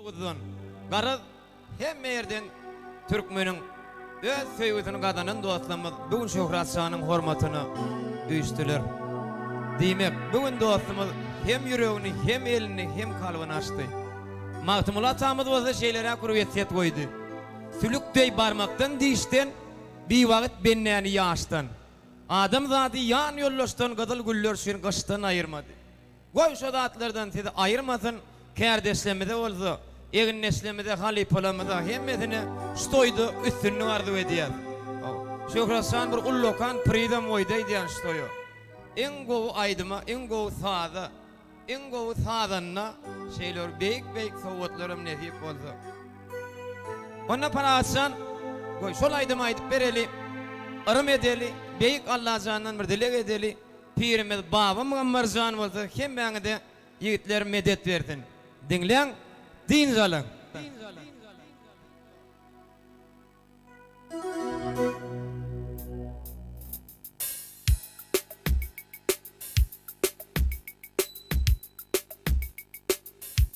Oguzdan, garaz, hemme ýerden türkmeniň öz söýgüsini gazanan dostlarymyz bu gün Şöhrat şanyň hormatyna üýşdüler. Diýmek, bu gün dostumyz hem ýüregini, hem elini, hem kalbyny açdy. Magtymguly atamyz bolsa şeýleräk bir wesýet goýdy, Sülük deý barmakdan dişden, biwagt bendäni ýaşdan. Adamzady ýan ýoldaşdan gyzyl güller üçin gyşdan aýyrmady. Goý şo zatlardan sizi aýyrmasyn, kärdeşlerimize bolsa, egindeşlerimize, halypalarymyza hemmesine şu toýda üstünlik arzuw edýäs. Şöhratjan bir ullakan prizam goýdy aýdýan şu toýa. Iň gowy aýdyma, iň gowy saza, iň gowy sazanda şeýle bir beýik-beýik sowgatlaram nesip bolsa. Onda Parahatjan, goý şol aýdymy aýdyp bereli, yrym edeli, beýik Allajandan bir dileg edeli. Pirimiz Baba Muammarjan bolsa hemmäňize ýigitler medet bersin. Diňläň, dynç alyň.